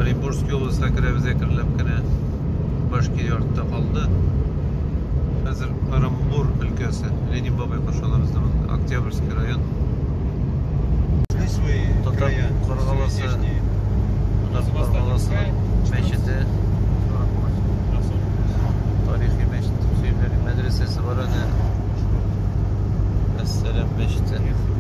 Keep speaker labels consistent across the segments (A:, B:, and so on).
A: Оренбургский областька керәбез әкренләп кенә. Башкирия артта калды. Хәзер Оромбур өлкәсе, Ленин бабай каршы алабыз да монда. Октябрьский район. Шли свои Татар края, свои Каргаласы. здешние. Татар Каргаласының мәчете, тарихи мәчет, Сөембәли мәдрәсәсе бар аны. Әссәлам мәчете.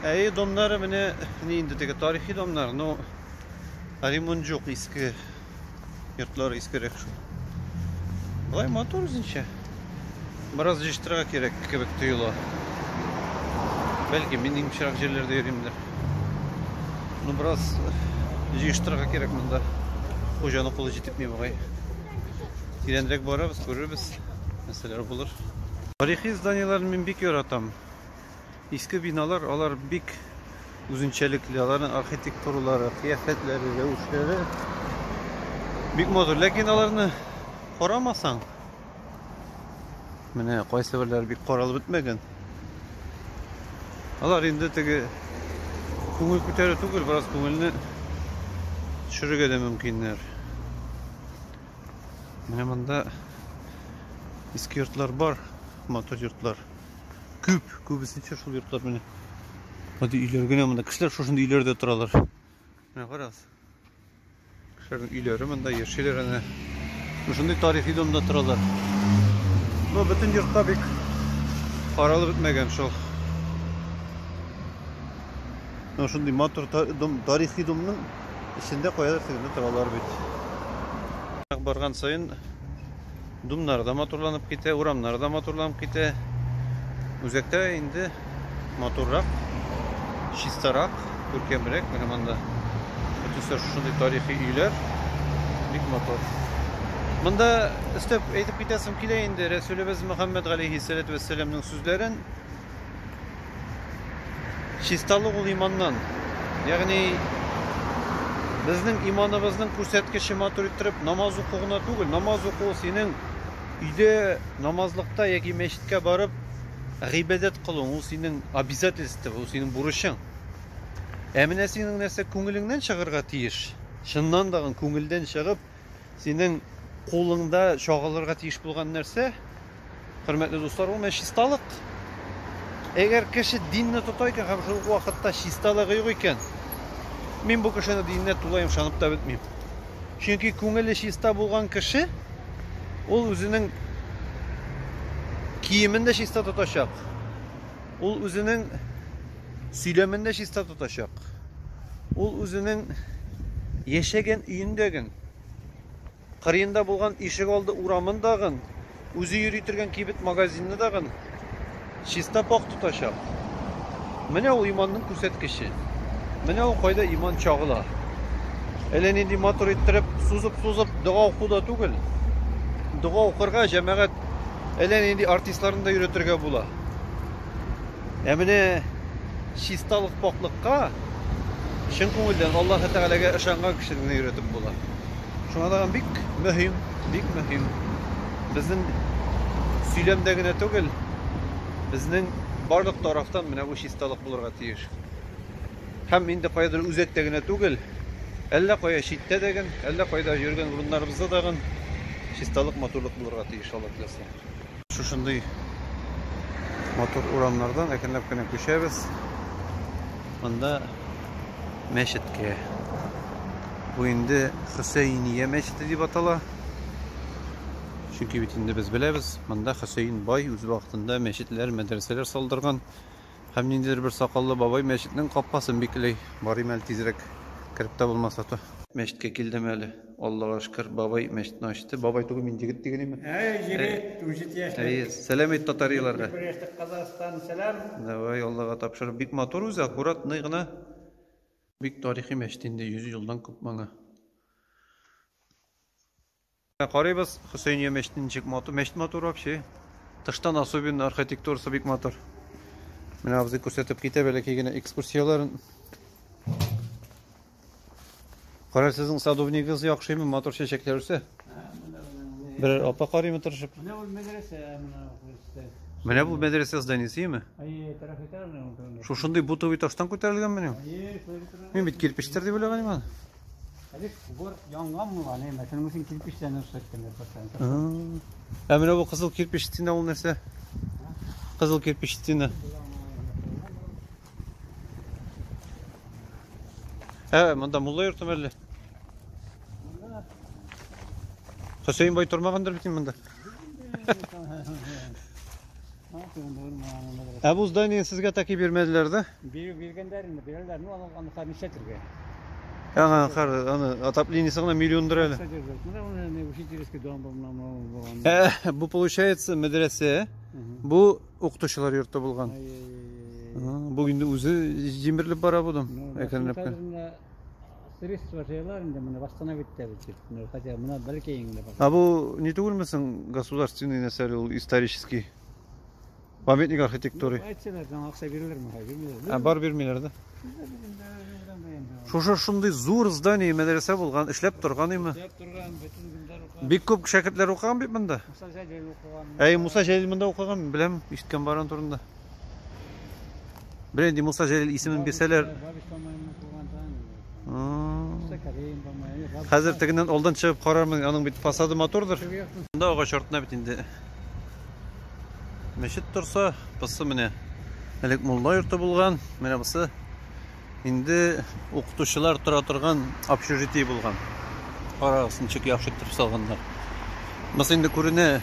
A: Ә өй домнары менә ни инде теге тарихи домнар, но ремонт юк, иске йортлар искерәк шул. Болай матур үзенчә. Бераз җыштырырга кирәк кебек тоела. Бәлки мин имчерак җирләрдә йөримдер. Ну бераз җыштырырга кирәк монда. Хуҗаны кулы җитепми бугай. Тирәнрәк барабыз, күрербез. Нәрсәләр булыр. Тарихи зданиеләрне мин бик яратам. Иске биналар, алар бик үзенчәлекле, аларның архитектуралары, кыяфәтләре, рәвешләре бик матур, ләкин аларны карамасаң, менә кайсы берләре бик каралып бетмәгән. Алар инде теге күңел күтәрү түгел, бераз күңелне төшерергә дә мөмкиннәр. Менә монда иске йортлар бар, матур йортлар. Күп, күбесенчә шул йортлар менә. Гади өйләр генә монда. Кешеләр шушында өйләрдә торалар. Менә карагыз. Кешеләрнең өйләре монда яшиләр әнә. Шушындый тарихи домда торалар. Ну, бөтен йортта бик каралып бетмәгән шул. Ну, шундый матур дом, тарихи домның эчендә каядыр тегендә торалар бит. Барган саен Думнар да матурланып китә, урамнар да матурланып китә. Үзәктә инде матуррак, чистарак, күркәмрәк. Менә монда бөтенесе шушындый тарихи өйләр. Бик матур. Монда өстәп әйтеп китәсем килә инде Рәсүлебез Мөхәммәд галәйһиссәләтү вәссәламның сүзләрен. Чисталык ул иманнан. Ягъни безнең иманыбызның күрсәткече матур иттереп намаз уку гына түгел, намаз уку синең өйдә намазлыкта яки мәчеткә барып гыйбадәт кылуың, ул синең обязательство, ул синең бурычың. Ә менә синең нәрсә күңелеңнән чыгарга тиеш. Чыннан дагы күңелдән чыгып, Синең кулыңда чагылырга тиеш булган нәрсә, хөрмәтле дуслар, ул менә чисталык. Әгәр кеше динне тота икән һәм шул вакытта чисталыгы юк икән, мин бу кешенең диненә тулаем ышанып та бетмим. Чөнки күңеле чиста булган кеше ул үзенең киемен дә чиста тотачак. Ул үзенең сөйләмен дә чиста тотачак. Ул үзенең яшәгән өендәген, кырыенда булган ишек алды урамын дагын, үзе йөри торган кибет магазинны дагын чиста пак тотачак. Менә ул иманның күрсәткече. Менә ул кайда иман чагыла. Әллә нинди матур иттереп, сузып-сузып дога уку да түгел. Дога укырга җәмәгать әллә нинди артистларны да йөрәтергә була. Ә менә чисталык пакълыкка чын күңелдән Аллаһы Тәгаләгә ышанган кешене генә өйрәтеп була. Шуңа тагын бик мөһим, бик мөһим. Безнең сөйләмдә генә түгел, безнең барлык тарафтан менә бу чисталык булырга тиеш. Һәм инде каядыр үзәктә генә түгел, әллә кая читтә дә гын, әллә кайда йөргән урыннарыбызда да гын чисталык, матурлык булырга тиеш, Алла теләсә. Шушындый матур урамнардан әкренләп кенә күчәбез. Монда мәчеткә. Бу инде Хөсәйния мәчете дип атала. Чөнки бит инде без беләбез, монда Хөсәйн бай үз вакытында мәчетләр, мәдрәсәләр салдырган. Һәм ниндидер бер сакаллы бабай мәчетнең капкасын бикләй. Барыйм әле тизрәк кереп тә булмаса то. Мәчеткә килдем әле. Аллага шкер, бабай мәчетне ачты. Бабай түгел, мин егет диген име? Әй, егет, үзе
B: тияшле. Әй, сәлам әйт татариларга.
A: Брешек Казахстан,
B: сәлам. Давай, Аллага
A: тапшыр. Бик матур үзе, аккуратный гына. Бик тарихи мәчет инде, 100 елдан күп моңа. Карыйбыз, Хөсәйния мәчетен ничек матур. Мәчет матур вообще. Тыштан особенно архитектурасы бик матур. Менә абзый күрсәтеп китә бәләкәй генә экскурсияләрен. Кара сезнең садовнигыз яхшыймы, матур чәчәкләр үсә. Берәр апа карыймы тырышып? Менә ул мәдрәсә
B: менә күрсәтә.
A: Менә бу мәдрәсә зданиесеме? Әйе, тарихитарный ул
B: турында. Шушындый бутовый таштан
A: күтәрелгәнмени? Әйе, шулай тора. Мин бит кирпечтер дип уйлаган идем аны. Әле
B: кубыр янган була, не, мәсәлән, мусин кирпечтән үсәткәннәр патшаны.
A: Ә менә бу кызыл кирпич стена ул нәрсә? Кызыл кирпич стена. Ә, монда мулла йортымы әллә? Монда. Хөсәйин бай тормагандыр бит монда. Ә бу здание сезгә таки бирмәделәр да? Бирү биргәннәр инде, бирәләр.
B: Ну, аны аны хәзер ничә төргә? Ага,
A: хәр, аны отоплениесе гына миллиондыр әле. Бу получается мәдрәсә, бу Укытучылар йорты булган. Бу инде үзе җимерелеп бара будым. Әкренләп. Средства
B: җайлар инде моны восстановить итәбез дип. Ну, хотя моны бәлки инде. А бу ни түгелме
A: соң государственный нәрсәле ул исторический? Памятник архитектуры. Әйтсәләр, аңа акча
B: бирелерме? Бирмиләр. Ә бар бирмиләр да.
A: Шушы шундый зур здание мәдрәсә булган, эшләп торган име? Эшләп торган, бөтен көндәр укыган. Бик күп шәкертләр укыган бит монда. Муса Җәлил укыган. Әй, Муса Җәлил монда укыган, мин беләм, ишеткән баран турында. Бер инде Муса Җәлил исемен бирсәләр. Хәзер тегеннән алдан чыгып карармын, аның бит фасады матурдыр. Монда агач артына бит инде. Мәчет торса, пысы менә. Элек мулла йорты булган, менә бусы Инде укытучылар тора торган общежитие булган. Карагыз, ничек яхшы итеп салганнар. Монысы инде күренә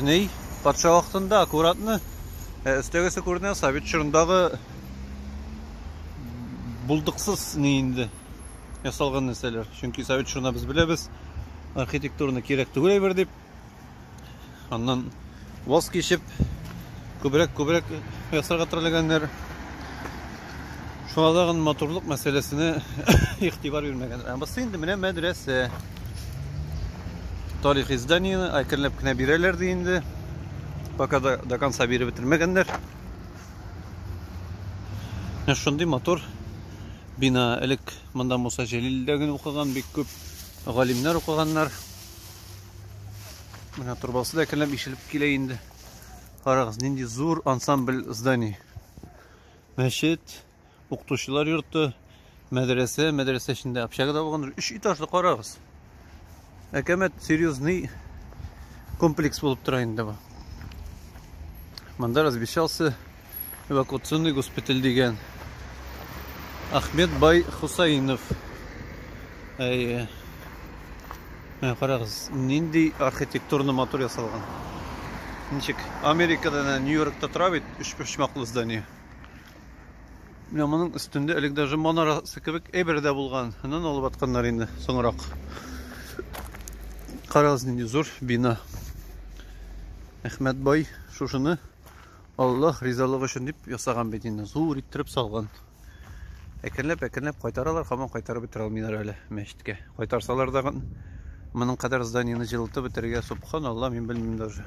A: ни патша вакытында аккуратны өстәгесе күренә совет чорындагы булдыксыз ни инде ясалган нәрсәләр. Чөнки совет чорына без беләбез, архитектурны кирәк түгел әйбер дип. Аннан ваз кичеп, күбрәк-күбрәк ясарга теләгәннәр. Шуңа тагын матурлык мәсьәләсенә игътибар бирмәгәннәр. Ә бусы инде менә мәдрәсә. Тарих изданиене әкренләп кенә бирәләр ди инде. Пока до, до конца биреп бетермәгәннәр. Шундый матур бина элек монда Муса Җәлилдә генә укыган бик күп галимнәр укыганнар. Менә торбасы да әкренләп ишелеп килә инде. Карагыз, нинди зур ансамбль зданий. Мәчет, укытучылар йорты, мәдрәсә, мәдрәсә эчендә общага да булгандыр. Өч этажлы карагыз. Әкәмәт серьезный комплекс булып тора инде бу. Монда развещался эвакуационный госпиталь дигән. Ахмед бай Хусаинов. Әйе. Менә карагыз, нинди архитектурны матур ясалган. Ничек? Америкада, Нью-Йоркта тора бит, өч почмаклы здание. Менә моның өстендә элек даже манарасы кебек әйбер дә булган. Аннан алып атканнар инде соңрак. Карагыз, нинди зур бина. Әхмәт бай шушыны Аллаһ ризалыгы өчен дип ясаган бит инде, зур иттереп салган. Әкренләп, әкренләп кайтаралар, хаман кайтарып бетерә алмыйлар әле мәчеткә. Кайтарсалар да моның кадәр зданиене җылытып бетерергә, субханалла, мин белмим даже.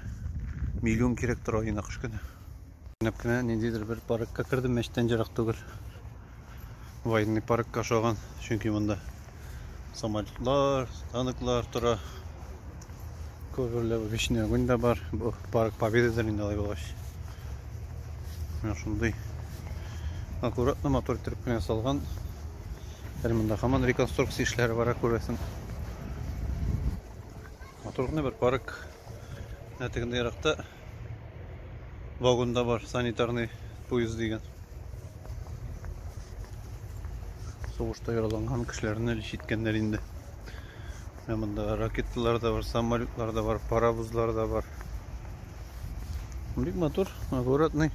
A: Миллион кирәк тора инде кыш көне. Әкренләп кенә ниндидер бер паркка кердем, мәчеттән ерак түгел. Военный паркка ошаган, чөнки монда самолетлар, танклар тора. Күберләп вечный огонь да бар. Бу парк Победадыр инде алай булгач. Менә шундый аккуратно мотор иттереп кенә ясалган. Әле монда һаман реконструкция эшләре бара күрәсең. Матур гына бер парк. Ә тегендә еракта вагонда бар санитарный поезд дигән. Сугышта яраланган кешеләрне әле читкәннәр инде. Менә монда ракеталар да бар, самолетлар да бар, паровозлар да бар. Бик матур, аккуратный.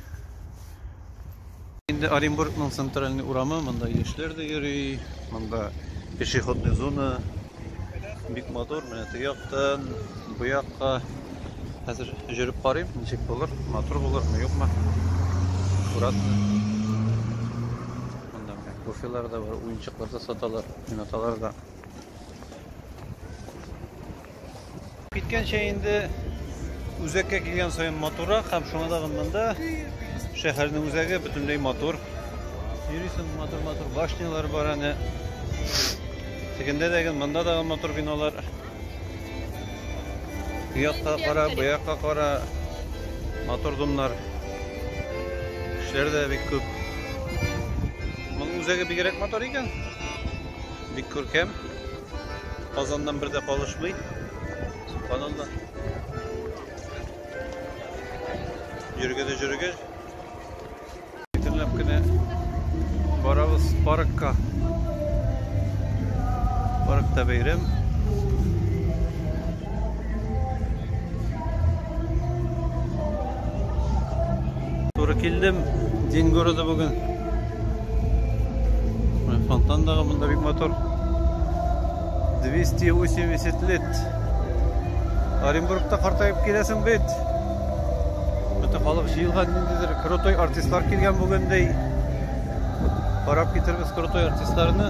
A: Инде Оренбургның центральный урамы, монда яшьләр дә йөри, монда пешеходный зона бик матур, менә теге яктан бу якка хәзер җөреп карыйм, ничек булыр, матур булырмы, юкмы. Аккуратно. Монда менә кофелар да бар, уенчыклар да саталар, уйнаталар да. Киткәнчә инде үзәккә килгән саен матуррак һәм шуңа да монда шәһәрнең үзәге бөтенләй матур. Йөрисең матур-матур башнялар бар әнә. Тегендә дә гел монда да матур биналар. Бу якка кара, бу якка кара. Матур домнар. Кешеләр дә бик күп. Моның үзәге бигрәк матур икән. Бик күркәм. Казаннан бер дә калышмый. Каналда. Йөргәдә җөргә. Әкренләп кенә барабыз паркка. Паркта бәйрәм. Туры килдем, дин городы бүген. Фонтан дағы монда бик мотор. 280 лет. Оренбургта картайып киләсең бит. Бөтен халык җыелган ниндидер крутой артистлар килгән бүгендей. Карап китербез крутой артистларны.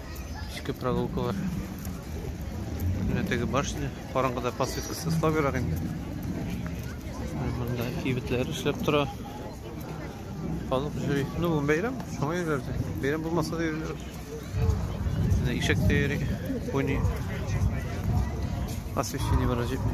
A: Эчке прогулкалар. Менә теге башня, караңгыда подсветкасы слабырак инде. Монда кибетләр эшләп тора. Халык җыри. Ну, бүген бәйрәм, шуңа йөриләрдер. Бәйрәм булмаса да йөриләр. Менә ишек тә йөри, пони. Освещение бара җитми.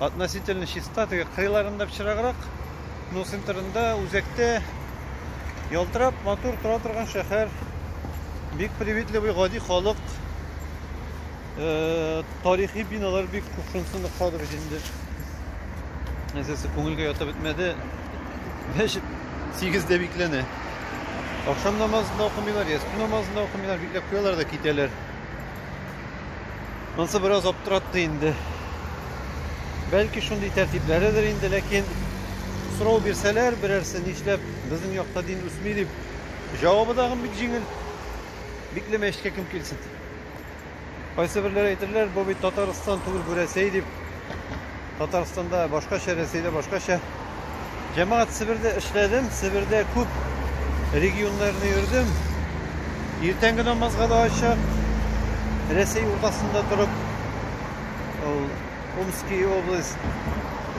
A: Относительно чиста, теге кырыйларында пычраграк, но центрында, үзәктә ялтырап, матур тора торган шәһәр. Бик приветливый, гади халык. Э, тарихи биналар бик күп, шунысын охшады бит инде. Әсәсе күңелгә ятып бетмәде. Мәчет 8-дә бикләнә. Ахшам намазында укымыйлар, ястү намазында укымыйлар, бикләп куялар да китәләр. Ансы бераз аптыратты инде. Бәлки шундый тәртипләредер инде, ләкин сорау бирсәләр берәрсе нишләп безнең якта дин үсми дип җавабы тагын бик җиңел. Бикләмә эшкә кем килсен. Кайсы берләр әйтерләр, бу бит Татарстан түгел, бу Рәсәй дип. Татарстанда башкача, Рәсәйдә башкача. Җәмәгать Себердә эшләдем, Себердә күп регионнарны йөрдем. Иртәнге намазга да ачык. Рәсәй уртасында торып, ул Омский область,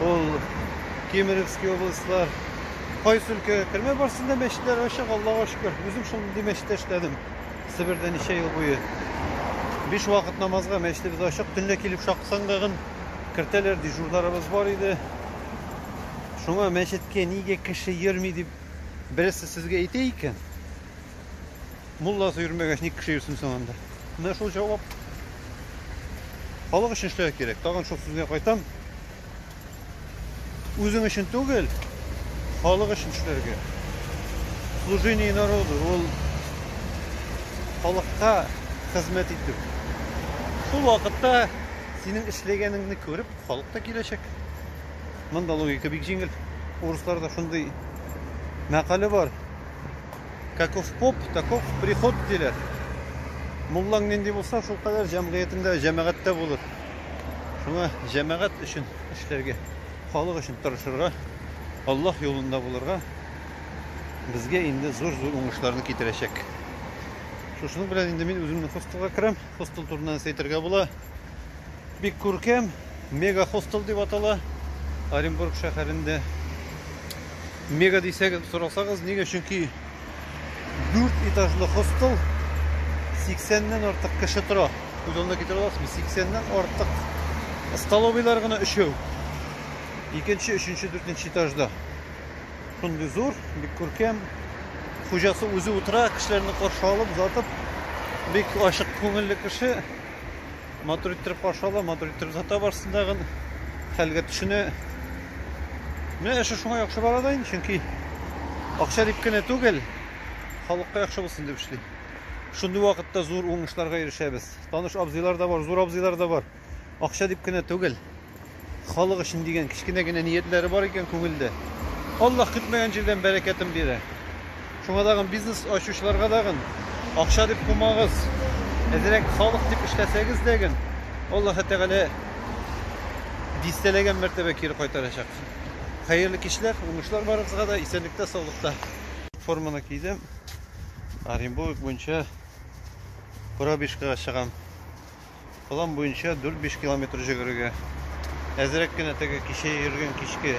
A: ул Кемеровский областьлар. Кайсы өлкәгә кермә барсында мәчетләр ачык, Аллага шөкер. Үзем шундый мәчеттә эшләдем. Себердә ничә ел буе. Биш вакыт намазга мәчетебез ачык. Төнлә килеп шаксангагын кертәләр дежурларыбыз бар иде. Шуңа мәчеткә нигә кеше йөрми дип бересе сезгә әйтә икән. Мулласы йөрмәгәч ник кеше йөрсен соң анда? Менә шул җавап. Халык өчен эшләргә кирәк. Тагын шул сүзгә кайтам. Үзең өчен түгел, халык өчен эшләргә. Служение народу ул халыкка хезмәт итү. Шул вакытта Синең эшләгәнеңне күреп, халык та киләчәк. Монда логика бик җиңел. Урысларда шундый мәкале бар. Каков поп, таков приход диләр. Муллаң нинди булса, шул кадәр җәмгыятендә, җәмәгатьтә булыр. Шуңа җәмәгать өчен эшләргә, халык өчен тырышырга, Аллаһ юлында булырга безгә инде зур-зур уңышларны китерәчәк. Шушының белән инде мин үземне хостелга керәм. Хостел турында нәрсә әйтергә була? Бик күркәм, мега хостел дип атала. Оренбург шәһәрендә. Мега дисәгез, сорасагыз, нигә? Чөнки 4 этажлы хостел 80-нән артык кеше тора. Күз алдына китерә аласызмы? 80-нән артык столовыйлар гына өчәү. Икенче, өченче, дүртенче этажда. Шундый зур, бик күркәм. Хуҗасы үзе утыра, кешеләрне каршы алып, озатып, бик ачык күңелле кеше. Матур иттереп каршы ала, матур иттереп озата барсын тагын. Хәлгә төшенә. Менә эше шуңа яхшы бара да инде, чөнки акча дип кенә түгел, халыкка яхшы булсын дип эшли. Шундый вакытта зур уңышларга ирешәбез. Таныш абзыйлар да бар, зур абзыйлар да бар. Акча дип кенә түгел, халык өчен дигән кечкенә генә ниятләре бар икән күңелдә. Аллаһ көтмәгән җирдән бәрәкәтен бирә. Шуңа дагын бизнес ачучыларга дагын акча дип кумагыз. Әзрәк халык дип эшләсәгез дәген, Аллаһы Тәгалә дистәләгән мәртәбә кире кайтарачак. Хәерле кичләр, уңышлар барыгызга да, исәнлектә, саулыкта. Форманы кидем. Оренбург буенча пробежкага чыгам. План буенча 4-5 километр җөгерергә. Әзерәк кенә теге кичә йөргән кичке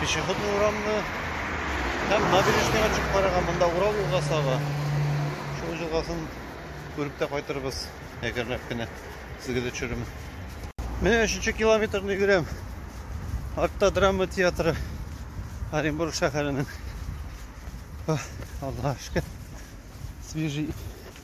A: пешеходный урамны һәм набережныйга чыгып карарга, монда Урал елгасы ага. Шул елгасын күреп тә кайтырбыз, әгәрләп кенә сезгә дә төшерермен. Менә 3 километрны йөгерәм. Артта драма театры Оренбург шәһәренең. Аллаһ шөкер. Свежий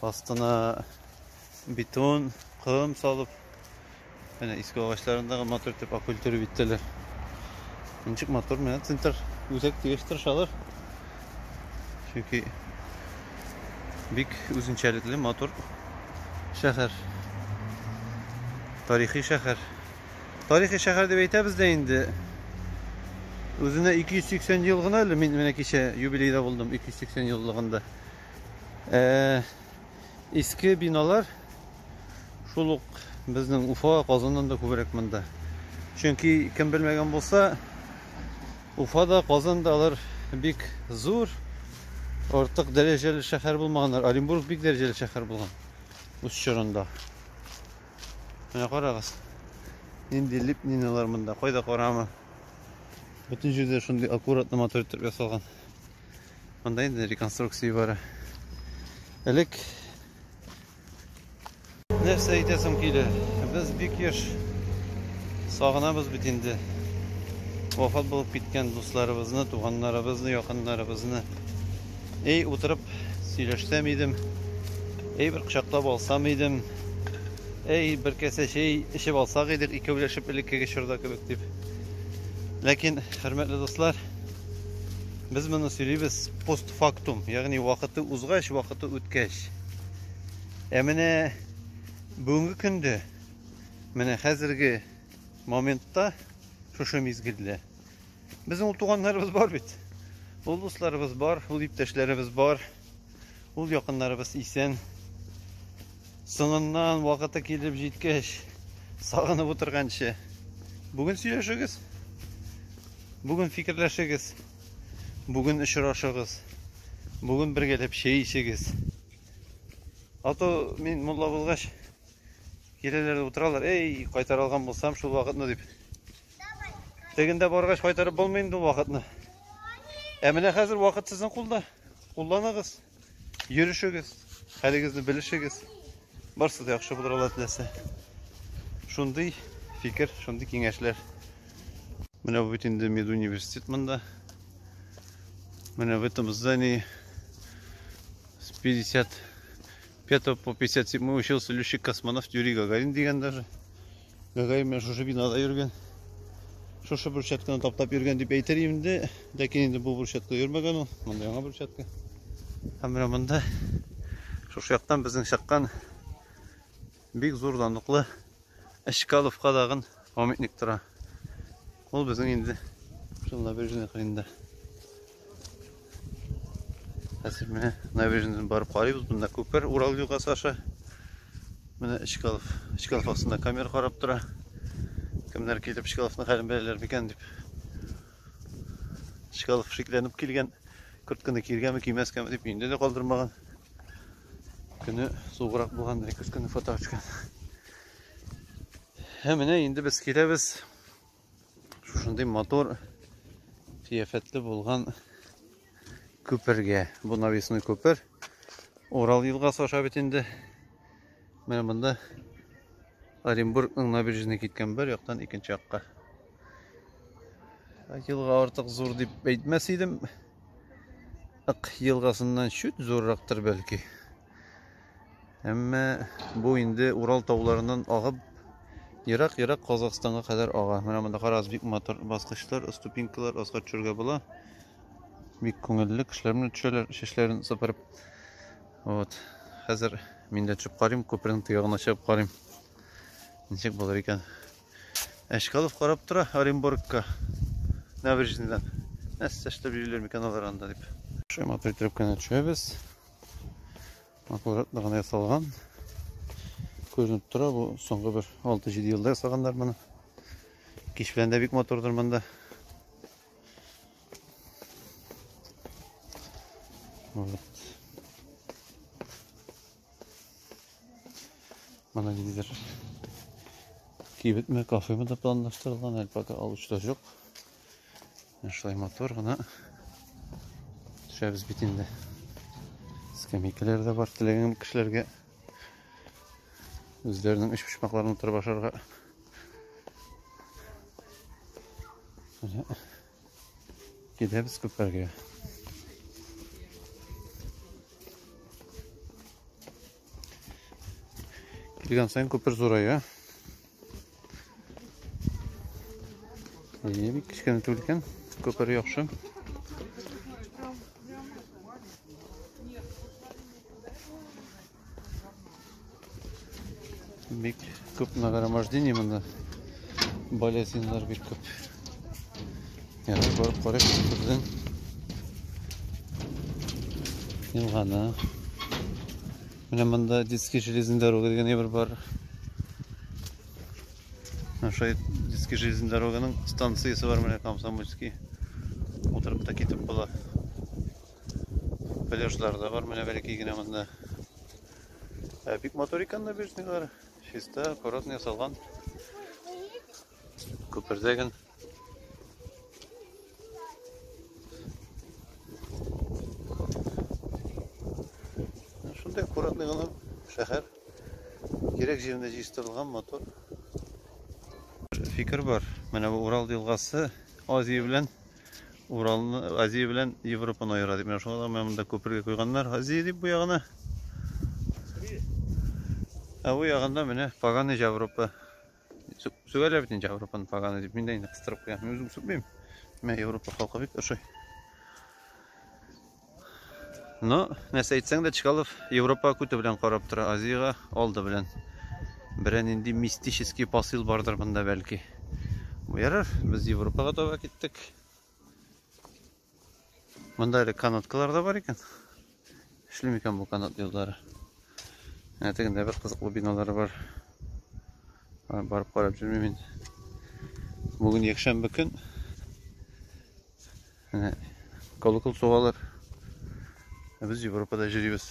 A: Астына бетон, ком салып, менә иске агачларындагы матур итеп акультура биттеләр. Ничек матур менә центр үзәк дигәч тырышалар. Чөнки бик үзенчәлекле матур шәһәр. Тарихи шәһәр. Тарихи шәһәр дип әйтәбез дә инде. Үзенә 280 ел гына әле мин менә кичә юбилейда булдым 280 еллыгында. Э, иске биналар шул ук безнең Уфа, Казаннан да күбрәк монда. Чөнки кем белмәгән булса, Уфада, Казанда алар бик зур, артык дәрәҗәле шәһәр булмаганнар. Оренбург бик дәрәҗәле шәһәр булган үз чорында. Менә карагыз. Нинди липниналар монда, кайда карама. Бөтен җирдә шундый аккуратно матур итеп ясалган. Монда инде реконструкция бара. Элек нәрсә әйтәсем килә? Без бик еш сагынабыз бит инде. Вафат булып киткән дусларыбызны, туганнарыбызны, якыннарыбызны. Эй, утырып сөйләшсәм идем. Эй, бер кочаклап алсам идем. Эй, бер кәсә чәй эчеп алсак идек, икәүләшеп элеккеге чорда кебек дип. Ләкин, хөрмәтле дуслар, Без моны сөйлибез постфактум, ягъни вакыты узгач, вакыты үткәч. Ә менә бүгенге көндә, менә хәзерге моментта, шушы мизгелдә безнең ул туганнарыбыз бар бит. Ул дусларыбыз бар, ул иптәшләребез бар. Ул якыннарыбыз исән. Соңыннан вакыты килеп җиткәч, сагынып утырганчы. Бүген сөйләшегез. Бүген фикерләшегез. Бүген очрашыгыз. Бүген бергәләп чәй ичегез. А то мин мулла булгач, киләләр утыралар. Эй, кайтарылган булсам шул вакытны дип. Тегендә баргач кайтарып булмый инде вакытны. Ә менә хәзер вакыт сезнең кулда. Кулланыгыз. Йөрешегез. Хәлегезне белешегез. Барсы да яхшы булыр Аллаһ теләсә. Шундый фикер, шундый киңәшләр. Менә бу бит инде медуниверситет монда. Менә в этом здании с 55 по 57 мы учился летчик-космонавт Юрий Гагарин дигән даже. Гәгәем менә шушы бинада йөргән. Шушы брусчатканы таптап йөргән дип әйтер инде. Ләкин инде бу брусчатка йөрмәгән ул. Монда яңа брусчатка. Һәм менә монда шушы яктан безнең чаккан бик зур данлыклы Әчкаловка дагын памятник тора. Ул безнең инде шунда бер генә кырында. Хәзер менә набережныйдан барып карыйбыз. Монда күпер Урал елгасы аша. Менә Чкалов, Чкалов астында камера карап тора. Кемнәр килеп Чкаловны хәлен беләләр микән дип. Чкалов шикләнеп килгән. Куртканы киргәме, кимәскәме дип инде дә калдырмаган. Көне суграк булган дирек көне фото төшкән. Һәм менә инде без киләбез. Шушындый мотор кыяфәтле булган күпергә. Бу навесной күпер. Урал елгасы аша бит инде. Менә монда Оренбургның набережный киткән бер яктан икенче якка. Елга артык зур дип әйтмәс идем. Ак елгасыннан чүт зуррактыр бәлки. Әмма бу инде Урал тауларыннан агып, ерак-ерак Казахстанга кадәр ага. Менә монда карагыз, бик матур баскычлар, ступенькалар, аска төшәргә була. Бик күңелле, кешеләр менә төшәләр, чәчләрен сыпырып. Вот. Хәзер мин дә төшеп карыйм, күпернең тыягына чыгып карыйм. Ничек булыр икән? Әшкалов карап тора Оренбургка. Набережныйдан. Нәрсә эшләп йөриләр микән алар анда дип. Шума төшәбез. аккуратно гына ясалган күренеп тора бу соңгы бер 6-7 елда ясаганнар моны кич белән дә бик матурдыр монда вот мына ниндидер кибетме кафеме да планлаштырылган әле пока алучы да жоқ Шулай мотор гына төшәбез бит инде. Скамейкалар да бар теләгән кешеләргә үзләренең өч почмакларын утырып ашарга. Кидәбез күпәргә. Килгән сайын күпер зурая. Әйе, бик кечкенә түгел икән. Күпер яхшы. Бик күп нагромождение монда. Болезинлар бик күп. Ярар, барып карыйк күпердән. Елганы. Менә монда детский железный дорога дигән әйбер бар. Ошай детский железный дороганың станциясе бар менә Комсомольский. Утырып та китеп була. Пляжлар да бар менә бәләкәй генә монда. Ә бик матур икән набережныйлар. Чиста, аккуратно ясалган. Күпердә генә Шундай аккуратный гына шәһәр. Кирәк җирендә җыйстырылган мотор. Фикер бар. Менә бу Урал елгасы Азия белән Уралны Азия белән Европаны аера дип менә шуңа менә монда күпергә куйганнар. Азия дип бу ягына. Ә бу ягында менә Паганы Европа. Сүгәләп инде Европаны поганы дип, мин дә инде кыстырып куям. Мин үзем сүкмим. Мә Европа халкы бик ошый. Но, нәрсә әйтсәң дә, Чкалов Европа күте белән карап тора, Азиягә алды белән. Берән инде мистический посыл бардыр монда бәлки. Ярар, без Европага таба киттек. Монда әле канаткалар да бар икән. Эшли микән бу канат юллары? Ә тегендә бер кызыклы биналар бар. Барып карап җөрмим инде. Бүген якшәмбе көн. Әнә колокол сугалар. Ә без Европада җөрибез.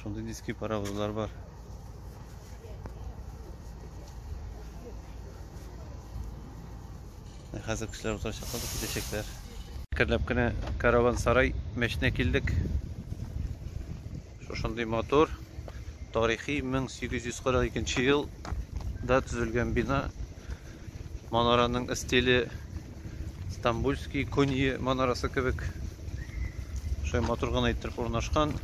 A: Шундый диски паровозлар бар. Ә хәзер кешеләр утырачак калып китәчәкләр. Керләп кенә караван сарай мәченә килдек. Шушындый мотор тарихи 1842 елда төзелгән бина Манараның стиле Стамбульский Куньи манарасы кебек. Шулай матур гына иттереп урнашкан.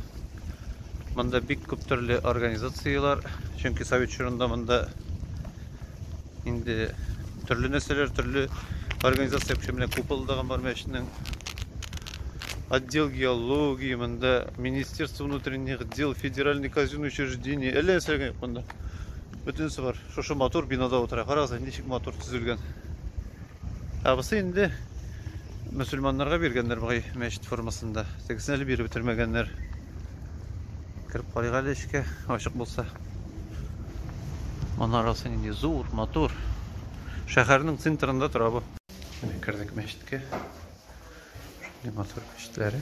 A: Монда бик күп төрле организацияләр, чөнки совет чорында монда инде төрле нәрсәләр, төрле организация кеше белән купылдаган бар мәчетнең отдел геологии, монда Министерство внутренних дел, федеральный казенный учреждение, әллә нәрсәләр монда. Бөтенесе бар. Шушы матур бинада утыра. Карагыз, ничек матур төзелгән. Абысы инде мөселманнарга биргәннәр бугай мәчет формасында. Тегесен әле биреп бетермәгәннәр. Кереп карыйк әле эчкә, ачык булса. Манарасы нинди зур, матур. Шәһәрнең центрында тора бу. Менә кердек мәчеткә. Шундый матур мәчетләре.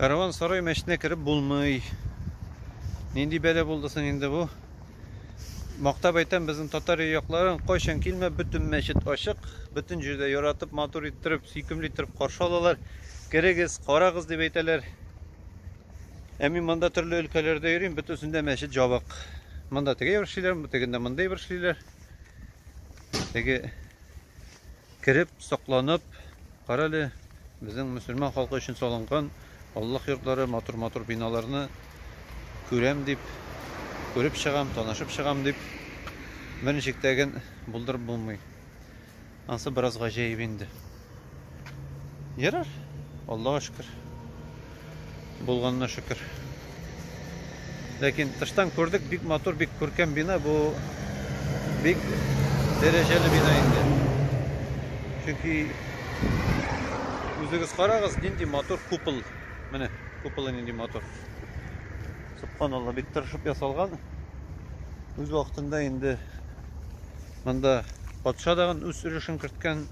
A: Караван сарай мәчетенә кереп булмый. Нинди бәлә булды соң инде бу? Мактап әйтәм, безнең татар якларын кайчан килмә, бөтен мәчет ачык, бөтен җирдә яратып, матур иттереп, сөйкемле иттереп каршы алалар. Керегез, карагыз дип әйтәләр. Ә мин монда төрле өлкәләрдә йөрим, бөтенсендә мәчет жабык. Монда теге бер эшлиләр, тегендә монда бер эшлиләр. Теге Кереп, сакланып, кара әле, безнең мөселман халкы өчен салынган Аллаһ йортлары, матур-матур биналарны күрәм дип, күреп чыгам, танышып чыгам дип, берничек тә гел булдырып булмый. Ансы бераз гаҗәеп инде. Ярар, Аллага шөкер. Булганына шөкер. Ләкин тыштан күрдек, бик матур, бик күркәм бина. Бу бик дәрәҗәле бина инде. Чөнки үзегез карагыз, нинди матур купол. Менә куполы нинди матур. Субханалла, бик тырышып ясалган. Үз вакытында инде монда патша дагын үз өлешен керткән.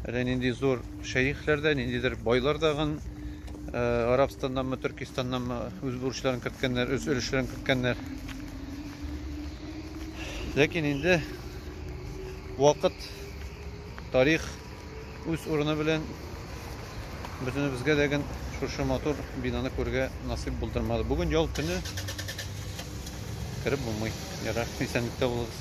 A: Әллә нинди зур шәехләр дә, ниндидер байлар да гын э, Арабстаннанмы, Төркистаннанмы үз бурычларын керткәннәр, үз өлешләрен керткәннәр. Ләкин инде вакыт, тарих үз урыны белән бөтенебезгә дә гын шушы матур бинаны күрергә насыйп булдырмады. Бүген ял көне кереп булмый. Ярар, исәнлектә булыгыз.